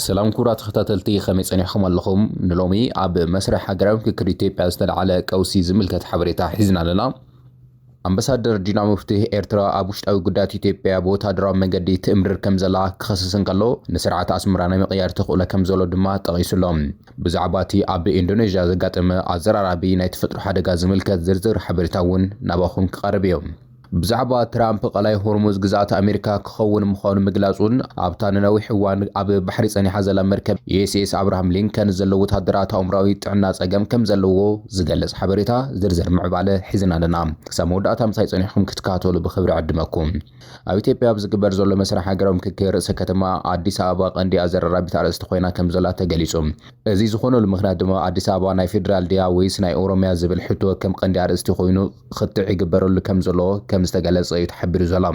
ሰላም ክቡራት ተኸታተልቲ ከመይ ጸኒሕኩም ኣለኹም? ንሎሚ ኣብ መስርሕ ሃገራዊ ምክክር ኢትዮጵያ ዝተልዓለ ቀውሲ ዝምልከት ሓበሬታ ሒዝና ኣለና። ኣምበሳደር ዲና ሙፍቲህ ኤርትራ ኣብ ውሽጣዊ ጉዳያት ኢትዮጵያ ብወተሃደራዊ መገዲ ትእምርር ከምዘላ ክኸስስ እንከሎ ንስርዓት ኣስመራ ናይ ምቕያር ተኽእሎ ከምዘሎ ድማ ጠቒሱ ኣሎ። ብዛዕባቲ ኣብ ኢንዶነዥያ ዘጋጠመ ኣዘራራቢ ናይ ተፈጥሮ ሓደጋ ዝምልከት ዝርዝር ሓበሬታ'ውን ናባኹም ክቐርብ እዩ። ብዛዕባ ትራምፕ ቀላይ ሆርሙዝ ግዝኣት ኣሜሪካ ክኸውን ምዃኑ ምግላጹን ኣብታ ንነዊሕ እዋን ኣብ ባሕሪ ጸኒሓ ዘላ መርከብ ዩኤስኤስ ኣብርሃም ሊንከን ዘሎ ወተሃደራት ኣእምሮኣዊ ጥዕና ጸገም ከም ዘለዎ ዝገልጽ ሓበሬታ ዝርዝር ምዕባለ ሒዝና ኣለና ክሳብ መወዳእታ ምሳይ ጸኒሕኩም ክትከታተሉ ብኽብሪ ዕድመኩም። ኣብ ኢትዮጵያ ኣብ ዝግበር ዘሎ መስርሕ ሃገራዊ ምክክር ርእሰ ከተማ ኣዲስ ኣበባ ቀንዲ ኣዘራራቢት ኣርእስቲ ኮይና ከም ዘላ ተገሊጹ። እዚ ዝኾነሉ ምኽንያት ድማ ኣዲስ ኣበባ ናይ ፌዴራል ድያ ወይስ ናይ ኦሮሚያ ዝብል ሕቶ ከም ቀንዲ ኣርእስቲ ኮይኑ ኽትዕ ይግበረሉ ከም ዘሎ ከም ዝተገለፀ እዩ ተሓቢሩ ዘሎ።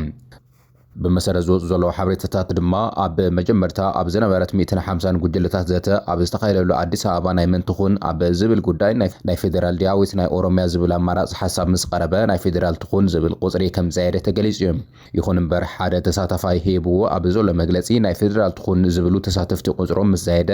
ብመሰረት ዝወፁ ዘለዉ ሓበሬታታት ድማ ኣብ መጀመርታ ኣብ ዝነበረት ሚእትን ሓምሳን ጉጅለታት ዘተ ኣብ ዝተኻየደሉ ኣዲስ ኣበባ ናይ መን ትኹን ኣብ ዝብል ጉዳይ ናይ ፌዴራል ድያ ወይስ ናይ ኦሮሚያ ዝብል ኣማራፂ ሓሳብ ምስ ቐረበ ናይ ፌዴራል ትኹን ዝብል ቑፅሪ ከም ዝፀየደ ተገሊፁ እዩ። ይኹን እምበር ሓደ ተሳታፋይ ሂብዎ ኣብ ዘሎ መግለፂ ናይ ፌዴራል ትኹን ዝብሉ ተሳተፍቲ ቑፅሮም ምስ ዛየደ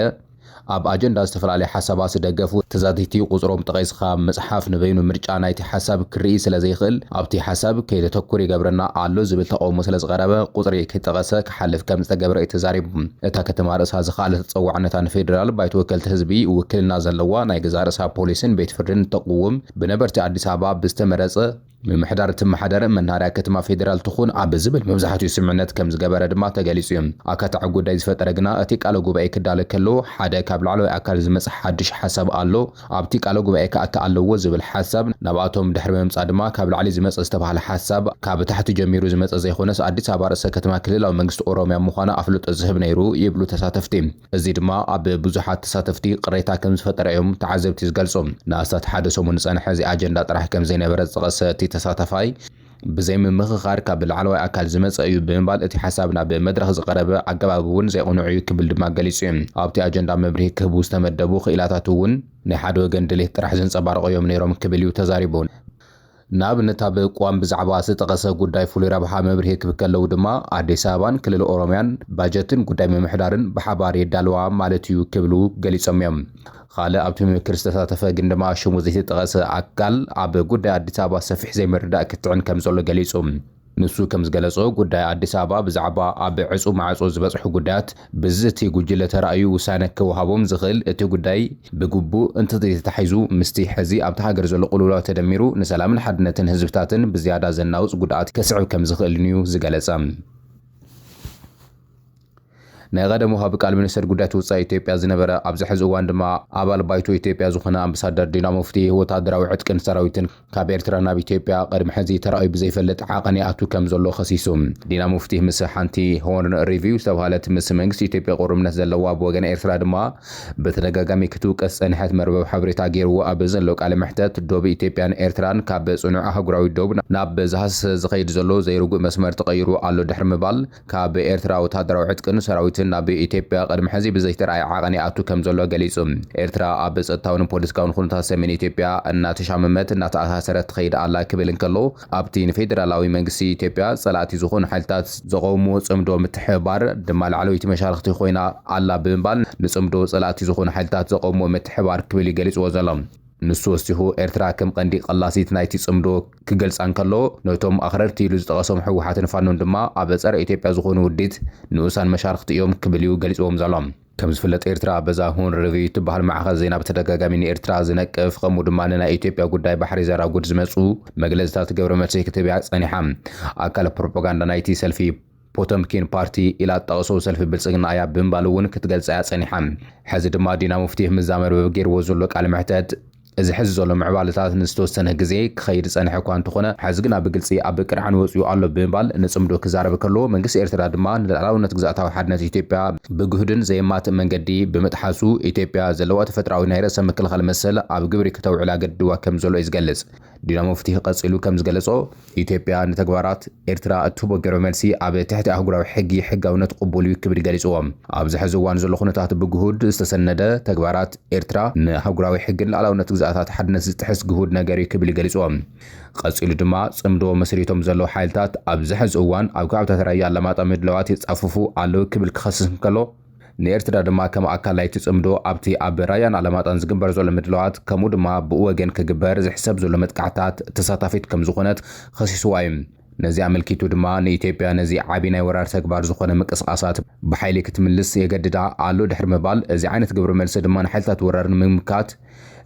ኣብ ኣጀንዳ ዝተፈላለያ ሓሳባት ዝደገፉ ተዛተይቲ ቁጽሮም ጠቒስኻ ምጽሓፍ ንበይኑ ምርጫ ናይቲ ሓሳብ ክርኢ ስለ ዘይክእል ኣብቲ ሓሳብ ከይነተኩር ይገብረና ኣሎ ዝብል ተቐውሞ ስለ ዝቐረበ ቁጽሪ ከይጠቐሰ ክሓልፍ ከም ዝተገብረ እዩ ተዛሪቡ። እታ ከተማ ርእሳ ዝኸኣለ ተጸዋዕነታ ንፌደራል ባይቶ ወከልቲ ህዝቢ ውክልና ዘለዋ ናይ ገዛእ ርእሳ ፖሊስን ቤት ፍርድን እተቕውም ብነበርቲ ኣዲስ ኣበባ ብዝተመረጸ ምምሕዳር እትመሓደር መናሃርያ ከተማ ፌዴራል ትኹን ኣብ ዝብል መብዛሕቲኡ ስምምዕነት ከም ዝገበረ ድማ ተገሊፁ እዩ። ኣካታዒ ጉዳይ ዝፈጠረ ግና እቲ ቃለ ጉባኤ ክዳለ ከሎ ሓደ ካብ ላዕለዋይ ኣካል ዝመፀ ሓዱሽ ሓሳብ ኣሎ ኣብቲ ቃለ ጉባኤ ክኣቲ ኣለዎ ዝብል ሓሳብ ናብኣቶም ድሕሪ ምምፃእ ድማ ካብ ላዕሊ ዝመፀ ዝተብሃለ ሓሳብ ካብ ታሕቲ ጀሚሩ ዝመፀ ዘይኾነስ ኣዲስ ኣበባ ርእሰ ከተማ ክልላዊ መንግስቲ ኦሮሚያ ምዃና ኣፍልጦ ዝህብ ነይሩ ይብሉ ተሳተፍቲ። እዚ ድማ ኣብ ብዙሓት ተሳተፍቲ ቅሬታ ከምዝፈጠረ እዮም ተዓዘብቲ ዝገልጹ። ንኣስታት ሓደ ሰሙን ዝጸንሐ እዚ ኣጀንዳ ጥራሕ ከምዘይነበረ ዝጠቐሰ እቲ ተሳታፋይ፣ ብዘይ ምምኽኻር ካብ ላዕለዋይ ኣካል ዝመጸ እዩ ብምባል እቲ ሓሳብ ናብ መድረኽ ዝቐረበ ኣገባብ እውን ዘይቕኑዕ እዩ ክብል ድማ ገሊጹ እዩ። ኣብቲ ኣጀንዳ መብርሂ ክህቡ ዝተመደቡ ክኢላታት እውን ናይ ሓደ ወገን ድሌት ጥራሕ ዘንጸባርቑ እዮም ነይሮም ክብል እዩ ተዛሪቡ። ንኣብነት ኣብ ቅዋም ብዛዕባ ዝተጠቐሰ ጉዳይ ፍሉይ ረብሓ መብርሂ ክብ ከለዉ ድማ ኣዲስ ኣበባን ክልል ኦሮምያን ባጀትን ጉዳይ ምምሕዳርን ብሓባር የዳልዋ ማለት እዩ ክብሉ ገሊፆም እዮም። ኻልእ ኣብቲ ምምክር ዝተሳተፈ ግን ድማ ሽሙ ዘይተጠቐሰ ኣካል ኣብ ጉዳይ ኣዲስ ኣበባ ሰፊሕ ዘይምርዳእ ክትዕን ከምዘሎ ገሊፁ። ንሱ ከም ዝገለጾ፣ ጉዳይ ኣዲስ ኣበባ ብዛዕባ ኣብ ዕጹው ማዕጾ ዝበጽሑ ጉዳያት ብዝ እቲ ጉጅለ ተራእዩ ውሳነ ክወሃቦም ዝኽእል እቲ ጉዳይ ብግቡእ እንተዘይተታሒዙ ምስቲ ሕዚ ኣብታ ሃገር ዘሎ ቅልውላው ተደሚሩ ንሰላምን ሓድነትን ህዝብታትን ብዝያዳ ዘናውጽ ጉድኣት ከስዕብ ከም ዝኽእልን'ዩ ዝገለጸ። ናይ ቐደም ወሃቢ ቃል ሚኒስተር ጉዳያት ወጻኢ ኢትዮጵያ ዝነበረ ኣብዚ ሕዚ እዋን ድማ ኣባል ባይቶ ኢትዮጵያ ዝኾነ ኣምባሳደር ዲና ሙፍቲ ወታደራዊ ዕጥቅን ሰራዊትን ካብ ኤርትራ ናብ ኢትዮጵያ ቕድሚ ሕዚ ተራእዩ ብዘይፈልጥ ዓቐን ይኣቱ ከም ዘሎ ከሲሱ። ዲና ሙፍቲ ምስ ሓንቲ ሆርን ሪቪው ዝተብሃለት ምስ መንግስቲ ኢትዮጵያ ቕሩብነት ዘለዋ ብወገን ኤርትራ ድማ ብተደጋጋሚ ክትውቀስ ዝጸንሐት መርበብ ሓበሬታ ጌርዎ ኣብ ዘሎ ቃለ መሕተት ዶብ ኢትዮጵያን ኤርትራን ካብ ጽኑዕ ኣህጉራዊ ዶብ ናብ ዝሃሰሰ ዝኸይድ ዘሎ ዘይርጉእ መስመር ተቐይሩ ኣሎ ድሕሪ ምባል ካብ ኤርትራ ወተሃደራዊ ዕጥቅን ሰራዊትን ናብ ኢትዮጵያ ቅድሚ ሕዚ ብዘይተራእየ ዓቐን ይኣቱ ከምዘሎ ገሊጹ። ኤርትራ ኣብ ጸጥታውን ፖለቲካውን ኩነታት ሰሜን ኢትዮጵያ እናተሻመመት እናተኣሳሰረት ትኸይድ ኣላ ክብል እንከሎ፣ ኣብቲ ንፌደራላዊ መንግስቲ ኢትዮጵያ ጸላእቲ ዝኾኑ ሓይልታት ዘቐውምዎ ጽምዶ ምትሕብባር ድማ ላዕለወይቲ መሻርኽቲ ኮይና ኣላ ብምባል ንጽምዶ ጸላእቲ ዝኾኑ ሓይልታት ዘቐውምዎ ምትሕብባር ክብል እዩ ገሊጽዎ ዘሎ። ንሱ ወሲኹ፣ ኤርትራ ከም ቀንዲ ቀላሲት ናይቲ ጽምዶ ክገልጻ እንከሎ፣ ነቶም ኣኽረርቲ ኢሉ ዝጠቐሶም ህወሓትን ፋኖን ድማ ኣብ ጸረ ኢትዮጵያ ዝኾኑ ውዲት ንኡሳን መሻርኽቲ እዮም ክብል'ዩ ገሊጽዎም ዘሎ። ከም ዝፍለጥ ኤርትራ በዛ ሁን ርቪ እትበሃል ማዕኸን ዜና ብተደጋጋሚ ንኤርትራ ዝነቅፍ ከምኡ ድማ ንናይ ኢትዮጵያ ጉዳይ ባሕሪ ዘራጉድ ዝመጹ መግለጺታት ገብረመልሲ ክትህብ'ያ ጸኒሓ። ኣካል ፕሮፖጋንዳ ናይቲ ሰልፊ ፖተምኪን ፓርቲ ኢላ እትጠቕሶ ሰልፊ ብልጽግና እያ ብምባል እውን ክትገልጻ እያ ጸኒሓ። ሕዚ ድማ ዲና ሙፍቲ ምስዛ መርበብ ገይርዎ ዘሎ ቃለ መሕተት፣ እዚ ሕዚ ዘሎ ምዕባለታት ንዝተወሰነ ግዜ ክኸይድ ዝጸንሐ እኳ እንተኾነ፣ ሕዚ ግና ብግልጺ ኣብ ቅርዓን ወጺኡ ኣሎ ብምባል ንጽምዶ ክዛረብ ከሎ፣ መንግስቲ ኤርትራ ድማ ንልኣላውነት ግዝኣታዊ ሓድነት ኢትዮጵያ ብግሁድን ዘየማትእን መንገዲ ብምጥሓሱ፣ ኢትዮጵያ ዘለዋ ተፈጥሮኣዊ ናይ ርእሰ ምክልኻል መሰል ኣብ ግብሪ ክተውዕል ኣገዲድዋ ከምዘሎ እዩ ዝገልጽ። ዲናሙፍቲ ቀጺሉ ከም ዝገለጾ፣ ኢትዮጵያ ንተግባራት ኤርትራ እትህቦ ግብረ መልሲ ኣብ ትሕቲ ኣህጉራዊ ሕጊ ሕጋውነት ቅቡል እዩ ክብል ገሊጽዎ። ኣብዚ ሕዚ እዋን ዘሎ ኩነታት ብግሁድ ዝተሰነደ ተግባራት ኤርትራ ንኣህጉራዊ ሕግን ልኣላውነት ግዝኣታት ሓድነት ዝጥሕስ ግሁድ ነገር እዩ ክብል ገሊጽዎ። ቀጺሉ ድማ ጽምዶ መስሪቶም ዘለዉ ሓይልታት ኣብዚ ሕዚ እዋን ኣብ ከባቢታት ራያ ኣላማጣ ምድላዋት የጻፍፉ ኣለዉ ክብል ክኸስስ እንከሎ፣ ንኤርትራ ድማ ከም ኣካል ናይቲ ጽምዶ ኣብቲ ኣብ ራያን ኣላማጣን ዝግበር ዘሎ ምድላዋት ከምኡ ድማ ብኡ ወገን ክግበር ዝሕሰብ ዘሎ መጥቃዕትታት ተሳታፊት ከም ዝኾነት ኸሲስዋ እዩ። ነዚ ኣመልኪቱ ድማ ንኢትዮጵያ ነዚ ዓቢ ናይ ወራር ተግባር ዝኾነ ምንቅስቓሳት ብሓይሊ ክትምልስ የገድዳ ኣሎ ድሕሪ ምባል እዚ ዓይነት ግብረ መልሲ ድማ ንሓይልታት ወራር ንምምካት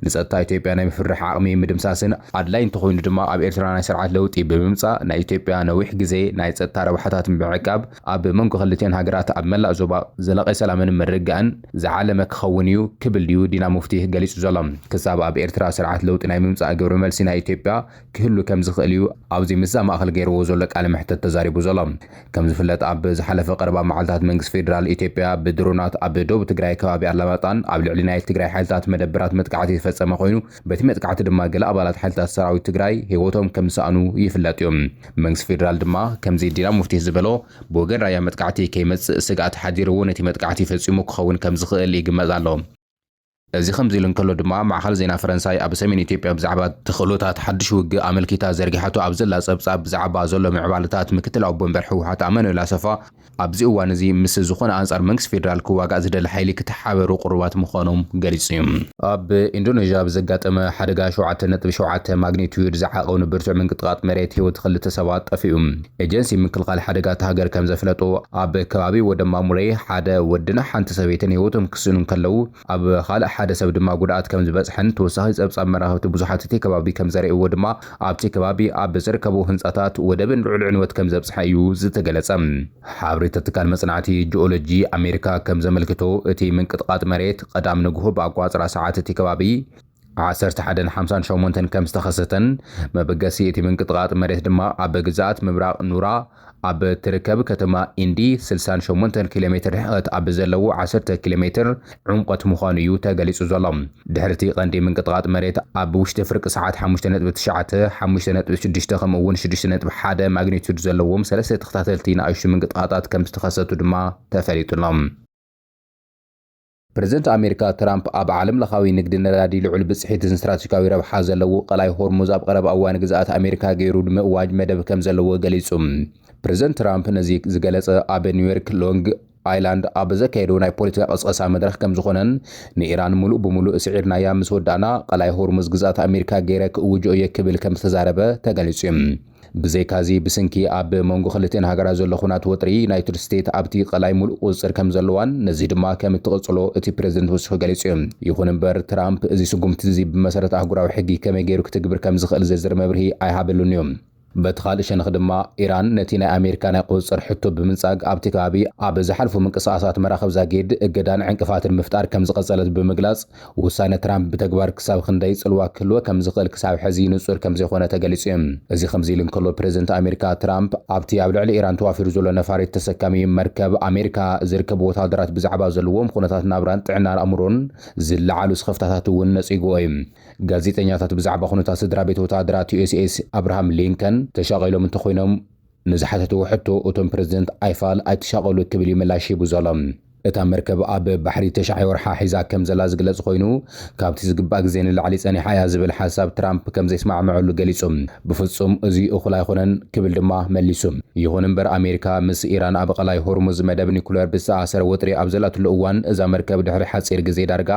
ንጸጥታ ኢትዮጵያ ናይ ምፍርራሕ ዓቕሚ ምድምሳስን ኣድላይ እንተኾይኑ ድማ ኣብ ኤርትራ ናይ ስርዓት ለውጢ ብምምጻእ ናይ ኢትዮጵያ ነዊሕ ግዜ ናይ ጸጥታ ረብሓታት ብምዕቃብ ኣብ መንጎ ክልቲኣን ሃገራት ኣብ መላእ ዞባ ዘላቒ ሰላምን ምርግጋእን ዝዓለመ ክኸውን እዩ ክብል'ዩ ዲና ሙፍቲህ ገሊጹ ዘሎ። ክሳብ ኣብ ኤርትራ ስርዓት ለውጢ ናይ ምምጻእ ግብረ መልሲ ናይ ኢትዮጵያ ክህሉ ከም ዝኽእል እዩ ኣብዚ ምስዛ ማእኸል ገይርዎ ዘሎ ቃለ መሕተት ተዛሪቡ ዘሎ። ከም ዝፍለጥ ኣብ ዝሓለፈ ቀረባ መዓልታት መንግስቲ ፌደራል ኢትዮጵያ ብድሮናት ኣብ ዶብ ትግራይ ከባቢ ኣላማጣን ኣብ ልዕሊ ናይ ትግራይ ሓይልታት መደበራት መጥቃዕቲ ዝፈፀመ ኮይኑ በቲ መጥቃዕቲ ድማ ገለ ኣባላት ሓይልታት ሰራዊት ትግራይ ህይወቶም ከም ዝሰኣኑ ይፍለጥ እዩ። መንግስቲ ፌደራል ድማ ከምዚ ዲና ሙፍቲ ዝበሎ ብወገን ራያ መጥቃዕቲ ከይመፅእ ስግኣት ሓዲርዎ ነቲ መጥቃዕቲ ፈፂሙ ክኸውን ከም ዝኽእል ይግመት ኣሎ። እዚ ከምዚ ኢሉ እንከሎ ድማ ማዕኸን ዜና ፈረንሳይ ኣብ ሰሜን ኢትዮጵያ ብዛዕባ ተኽእሎታት ሓድሽ ውግእ ኣመልኪታ ዘርጊሓቶ ኣብ ዘላ ጸብጻብ ብዛዕባ ዘሎ ምዕባለታት ምክትል ኣቦ ወንበር ህወሓት ኣማኑኤል ኣሰፋ ኣብዚ እዋን እዚ ምስ ዝኾነ ኣንጻር መንግስቲ ፌደራል ክዋጋእ ዝደሊ ሓይሊ ክተሓባበሩ ቅሩባት ምዃኖም ገሊጹ እዩ። ኣብ ኢንዶነዥያ ብዘጋጠመ ሓደጋ ሸውዓተ ነጥቢ ሸውዓተ ማግኒትዩድ ዝዓቐኑ ብርቱዕ ምንቅጥቓጥ መሬት ህይወት ክልተ ሰባት ጠፊኡ። ኤጀንሲ ምክልኻል ሓደጋ እታ ሃገር ከምዘፍለጦ፣ ኣብ ከባቢ ወደማሙሬ ሓደ ወድን ሓንቲ ሰበይትን ህይወቶም ክስእኑ እንከለዉ፣ ኣብ ካልእ ሓደ ሰብ ድማ ጉድኣት ከምዝበጽሐን ተወሳኺ ጸብጻብ መራኸብቲ ብዙሓት እቲ ከባቢ ከምዘርእይዎ ድማ ኣብቲ ከባቢ ኣብ ዝርከቡ ህንጻታት ወደብን ልዑል ዕንወት ከምዘብጽሐ እዩ ዝተገለጸ። ሓበሬታ ትካል መጽናዕቲ ጂኦሎጂ ኣሜሪካ ከምዘመልክቶ፣ እቲ ምንቅጥቓጥ መሬት ቀዳም ንግሆ ብኣቆጻጽራ ሰዓት እቲ ከባቢ፣ ዓሰርተ ሓደን ሓምሳን ሸሞንተን ከም ዝተኸሰተን መበገሲ እቲ ምንቅጥቓጥ መሬት ድማ ኣብ ግዝኣት ምብራቕ ኑራ ኣብ እትርከብ ከተማ ኢንዲ ስልሳን ሸሞንተን ኪሎ ሜትር ርሕቐት ኣብ ዘለዎ ዓሰርተ ኪሎ ሜትር ዑምቐት ምዃኑ እዩ ተገሊጹ ዘሎ። ድሕሪ እቲ ቀንዲ ምንቅጥቓጥ መሬት ኣብ ውሽጢ ፍርቂ ሰዓት ሓሙሽተ ነጥቢ ትሽዓተ፣ ሓሙሽተ ነጥቢ ሽዱሽተ ከምኡ'ውን ሽዱሽተ ነጥቢ ሓደ ማግኒቱድ ዘለዎም ሰለስተ ተኸታተልቲ ንኣሽቱ ምንቅጥቓጣት ከም ዝተኸሰቱ ድማ ተፈሊጡ ኣሎ። ፕረዚደንት ኣሜሪካ ትራምፕ ኣብ ዓለምለኻዊ ንግዲ ነዳዲ ልዑል ብፅሒትን ስትራቴጂካዊ ረብሓ ዘለዎ ቀላይ ሆርሙዝ ኣብ ቐረባ እዋን ግዝኣት ኣሜሪካ ገይሩ ንምእዋጅ መደብ ከምዘለዎ ገሊፁ። ፕረዚደንት ትራምፕ ነዚ ዝገለፀ ኣብ ኒውዮርክ ሎንግ ኣይላንድ ኣብ ዘካየዶ ናይ ፖለቲካ ቕስቐሳ መድረኽ ከምዝኾነን ንኢራን ሙሉእ ብሙሉእ ስዒርናያ ምስ ወዳእና ቐላይ ሆርሙዝ ግዝኣት ኣሜሪካ ገይረ ክእውጆ እየ ክብል ከምዝተዛረበ ተገሊፁ እዩ። ብዘይካዚ ብስንኪ ኣብ መንጎ ክልቲኤን ሃገራት ዘሎ ኩናት ወጥሪ ዩናይትድ ስቴት ኣብቲ ቀላይ ሙሉእ ቁፅፅር ከምዘለዋን ነዚ ድማ ከምትቕፅሎ እቲ ፕረዚደንት ወሲኹ ገሊፁ እዩ። ይኹን እምበር ትራምፕ እዚ ስጉምቲ እዚ ብመሰረት ኣህጉራዊ ሕጊ ከመይ ገይሩ ክትግብር ከምዝኽእል ዝርዝር መብርሂ ኣይሃበሉን እዩ። በቲ ኻልእ ሸነኽ ድማ ኢራን ነቲ ናይ ኣሜሪካ ናይ ቁፅፅር ሕቶ ብምንፃግ ኣብቲ ከባቢ ኣብ ዝሓልፉ ምንቅስቓሳት መራኽብ ዛጊድ እገዳን ዕንቅፋትን ምፍጣር ከምዝቐፀለት ብምግላፅ ውሳነ ትራምፕ ብተግባር ክሳብ ኽንደይ ጽልዋ ክህልዎ ከም ዝኽእል ክሳብ ሕዚ ንጹር ከም ዘይኾነ ተገሊጹ እዩ። እዚ ከምዚ ኢሉ እንከሎ ፕረዚደንት ኣሜሪካ ትራምፕ ኣብቲ ኣብ ልዕሊ ኢራን ተዋፊሩ ዘሎ ነፋሪት ተሰካሚ መርከብ ኣሜሪካ ዝርከቡ ወተሃደራት ብዛዕባ ዘለዎም ኹነታት ናብራን ጥዕና ኣእምሮን ዝለዓሉ ስኽፍታታት እውን ነጺጉዎ እዩ። ጋዜጠኛታት ብዛዕባ ኹነታት ስድራቤት ወተሃደራት ዩኤስኤስ ኣብርሃም ሊንከን ተሻቒሎም እንተኾይኖም፣ ንዝሓተትዎ ሕቶ እቶም ፕረዚደንት ኣይፋል ኣይትሻቐሉ ክብል እዩ ምላሽ ሂቡ ዘሎ። እታ መርከብ ኣብ ባሕሪ ተሽዓይ ወርሓ ሒዛ ከምዘላ ዝግለጽ ኮይኑ፣ ካብቲ ዝግባእ ግዜ ንላዕሊ ጸኒሓ እያ ዝብል ሓሳብ ትራምፕ ከምዘይስማዕምዐሉ ገሊጹ። ብፍጹም እዚ እኹል ኣይኾነን ክብል ድማ መሊሱ። ይኹን እምበር ኣሜሪካ ምስ ኢራን ኣብ ቐላይ ሆርሙዝ መደብ ኒኩለር ብዝተኣሳሰረ ወጥሪ ኣብ ዘላትሉ እዋን እዛ መርከብ ድሕሪ ሓጺር ግዜ ዳርጋ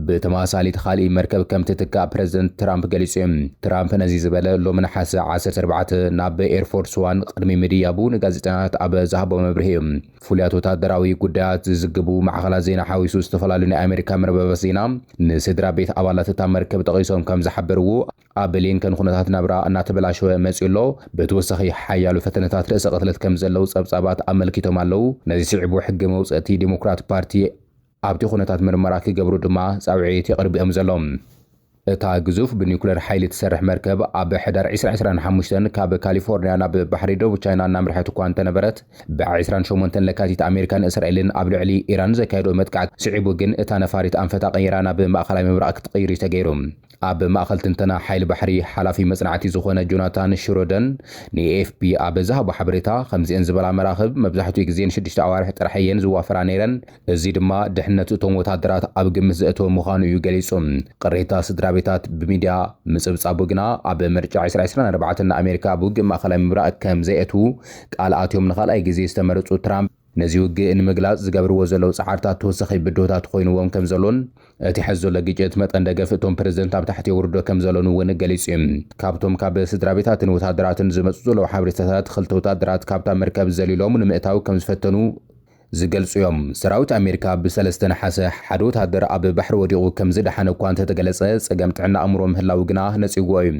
ብተመሳሳሊ ኻልእይ መርከብ ከም ትትካእ ፕረዚደንት ትራምፕ ገሊጹ'ዩ። ትራምፕ ነዚ ዝበለ ሎሚ ነሓሰ ዓሰርተ ኣርባዕተ ናብ ኤርፎርስ ዋን ቕድሚ ምድያቡ ንጋዜጠኛታት ኣብ ዝሃቦ መብርሂ'ዩ። ፍሉያት ወተሃደራዊ ጉዳያት ዝዝግቡ ማዕኸናት ዜና ሓዊሱ ዝተፈላለዩ ናይ ኣመሪካ መርበባት ዜና ንስድራ ቤት ኣባላት እታ መርከብ ጠቒሶም ከም ዝሓበርዎ ኣብ ብሊንከን ኹነታት ናብራ እናተበላሸወ መጺኡ ኣሎ። ብተወሳኺ ሓያሎ ፈተነታት ርእሰ ቕትለት ከም ዘለዉ ጸብጻባት ኣመልኪቶም ኣለዉ። ነዚ ስዒቡ ሕገ መውጸእቲ ዴሞክራት ፓርቲ፣ ኣብቲ ኩነታት ምርመራ ክገብሩ ድማ ጻውዒት የቕርብ እዮም ዘሎ። እታ ግዙፍ ብኒኩለር ሓይሊ እትሰርሕ መርከብ ኣብ ሕዳር ዕስራ ዕስራን ሓሙሽተን ካብ ካሊፎርንያ ናብ ባሕሪ ደቡብ ቻይና እናምርሐት እኳ እንተነበረት ብዕስራን ሸሞንተን ለካቲት ኣሜሪካን እስራኤልን ኣብ ልዕሊ ኢራን ዘካየድኦ መጥቃዕቲ ስዒቡ ግን እታ ነፋሪት ኣንፈታ ቀይራ ናብ ማእኸላይ ምብራቕ ክትቕይር'ዩ ተገይሩ። ኣብ ማእኸል ትንተና ሓይሊ ባሕሪ ሓላፊ መፅናዕቲ ዝኾነ ጆናታን ሽሮደን ንኤኤፍፒ ኣብ ዝሃቦ ሓበሬታ ከምዚኤን ዝበላ መራኽብ መብዛሕቲኡ ግዜ ንሽዱሽተ ኣዋርሕ ጥራሕ እየን ዝዋፈራ ነይረን፣ እዚ ድማ ድሕነት እቶም ወታደራት ኣብ ግምት ዘእተወ ምዃኑ እዩ ገሊፁ። ቅሬታ ስድራቤታት ብሚድያ ምፅብፃቡ ግና ኣብ ምርጫ ዕስራ ዕስራን ኣርባዕተን ንኣሜሪካ ኣብ ውግእ ማእኸላይ ምብራቕ ከምዘየእትዉ ቃል ኣትዮም ንኻልኣይ ግዜ ዝተመረፁ ትራምፕ፣ ነዚ ውግእ ንምግላጽ ዝገብርዎ ዘለዉ ጻዕርታት ተወሳኺ ብድሆታት ኾይንዎም ከም ዘሎን እቲ ሐዚ ዘሎ ግጭት መጠን ደገፍ እቶም ፕረዚደንት ኣብ ታሕቲ የውርዶ ከም ዘሎን እውን ገሊጹ እዩ። ካብቶም ካብ ስድራቤታትን ወተሃደራትን ዝመጹ ዘለዉ ሓበሬታታት ኽልተ ወተሃደራት ካብታ መርከብ ዘሊሎም ንምእታው ከም ዝፈተኑ ዝገልጹ እዮም። ሰራዊት ኣሜሪካ ብ ሰለስተ ነሓሰ ሓደ ወተሃደር ኣብ ባሕሪ ወዲቑ ከም ዝደሓነ እኳ እንተተገለጸ ጸገም ጥዕና ኣእምሮ ምህላዉ ግና ነጺግዎ እዩ።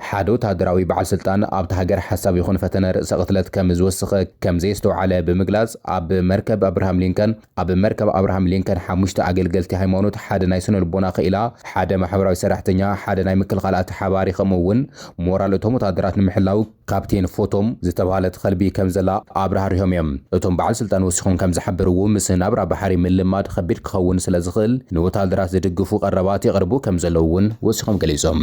ሓደ ወተሃደራዊ በዓል ስልጣን ኣብታ ሃገር ሓሳብ ይኹን ፈተነ ርእሰ ቅትለት ከም ዝወስኽ ከም ዘየስተውዓለ ብምግላጽ ኣብ መርከብ ኣብርሃም ሊንከን ኣብ መርከብ ኣብርሃም ሊንከን ሓሙሽተ ኣገልገልቲ ሃይማኖት ሓደ ናይ ስነ ልቦና ክኢላ ሓደ ማሕበራዊ ሰራሕተኛ ሓደ ናይ ምክልኻል ኣተሓባባሪ ከምኡ እውን ሞራል እቶም ወተሃደራት ንምሕላው ካፕቴን ፎቶም ዝተብሃለት ኸልቢ ከም ዘላ ኣብራህሪሆም እዮም። እቶም በዓል ስልጣን ወሲኾም ከም ዝሓበርዎ ምስ ናብራ ባሕሪ ምልማድ ኸቢድ ክኸውን ስለ ዝኽእል ንወተሃደራት ዝድግፉ ቐረባት የቕርቡ ከም ዘለዉ እውን ወሲኾም ገሊጾም።